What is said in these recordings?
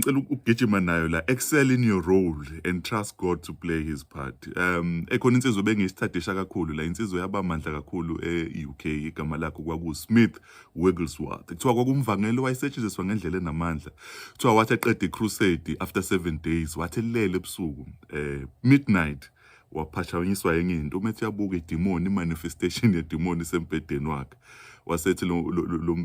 ngicela ukugijima nayo la excel in your role and trust God to play his part um ekhona insizwe bengiyisithadisha kakhulu la insizwe yabamandla kakhulu e-UK igama lakho kwaku Smith Wigglesworth kuthiwa kwakumvangelo wayesetshenziswa ngendlela enamandla kuthiwa wathi eqeda i-crusade after 7 days wathi lele ebusuku eh midnight waphashanyiswa yenye into uma ethi uyabuka idimoni imanifestation yedimoni isembhedeni wakhe wasethi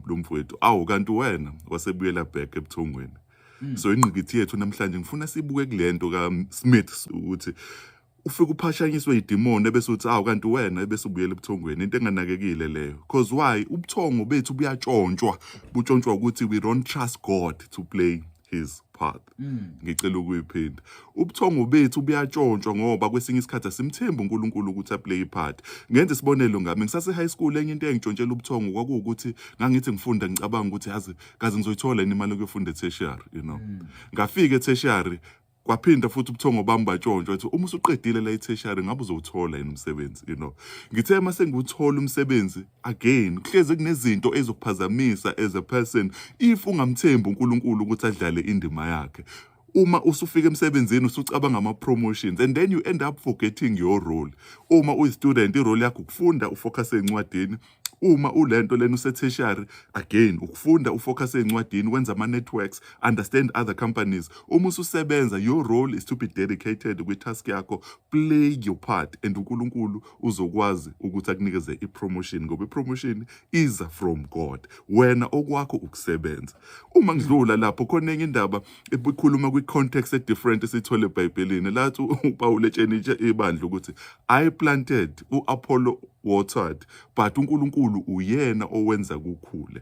lo mfowethu awu kanti wena wasebuyela back ebuthongweni hmm. so ingqikithi yethu namhlanje ngifuna sibuke kule nto kasmith ukuthi ufike uphashanyiswe idimoni ebese uthi awu kanti wena ebese ubuyela ebuthongweni into enganakekile leyo cause why ubuthongo bethu buyatshontshwa butshontshwa ukuthi we don't trust god to play his path mm. ngicela ukuyiphinda ubuthongo bethu buyatshontshwa ngoba kwesinye isikhathi asimthembi uNkulunkulu ukuthi aplay ipart ngenze isibonelo ngami ngisase high school enye into engitshontshela ubuthongo kwakuwukuthi ngangithi ngifunda ngicabanga ukuthi yazi kaze ngizoyithola imali yokufunda etertiary you know mm. ngafika etertiary kwaphinda futhi ubuthongo bami batshontsha ukuthi uma usuqedile la itheshari ngabe uzowuthola yini umsebenzi you know ngithe uma sengiwuthola umsebenzi again kuhlezi kunezinto ezokuphazamisa as a person if ungamthembi uNkulunkulu ukuthi adlale indima yakhe uma usufika emsebenzini usucabanga ama promotions and then you end up forgetting your role uma uyi student i role yakho ukufunda ufocus encwadini uma ulento lena usetertiary again ukufunda ufocus ezincwadini wenza ama networks understand other companies uma ususebenza your role is to be dedicated kwi task yakho play your part and uNkulunkulu uzokwazi ukuthi akunikeze i promotion ngoba i promotion iza from God wena okwakho ukusebenza uma ngidlula lapho khona enye indaba ikhuluma kwi-context e-different esiyithole ebhayibhelini lathi upawulu etshenitshe ibandla ukuthi i planted u-apollo watered but unkulunkulu uyena owenza kukhule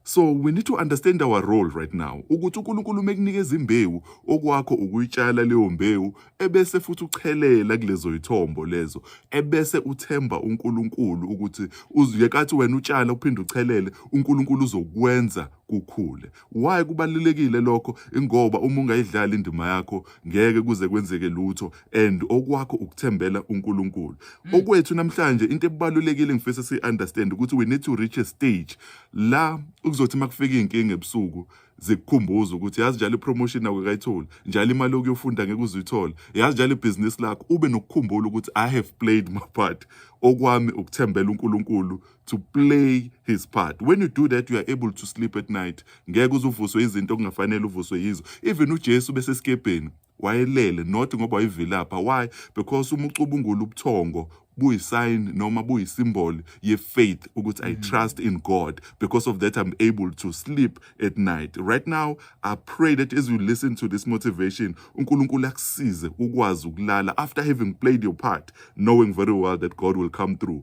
so we need to understand our role right now ukuthi unkulunkulu uma ekunikeza imbewu okwakho ukuyitshala leyo mbewu ebese futhi uchelela kulezo yithombo lezo ebese uthemba unkulunkulu ukuthi uzuyekathi wena utshala uphinde uchelele unkulunkulu uzokwenza kukhule. Why kubalulekile lokho? Ingoba uma ungayidlali indima yakho ngeke kuze kwenzeke lutho and okwakho ukuthembela uNkulunkulu. Mm. Okwethu namhlanje into ebalulekile ngifisa si understand ukuthi we need to reach a stage la ukuzothi makufika inkinga ebusuku zikukhumbuza ukuthi yazi njalo ipromotion nawe kayitholi njalo imali okuyofunda ngeke uzuyithola yazi njalo ibhizinisi lakho ube nokukhumbula ukuthi i have played my part okwami ukuthembela uNkulunkulu to play his part when you do that you are able to sleep at night ngeke uzuvuswe izinto okungafanele uvuswe yizo even uJesu bese skebheni wayelele not ngoba wayivilapha why because uma ucubungula ubuthongo buyisign noma buyisimboli yefaith ukuthi i mm. trust in god because of that i'm able to sleep at night right now i pray that as you listen to this motivation unkulunkulu akusize ukwazi ukulala after having played your part knowing very well that god will come through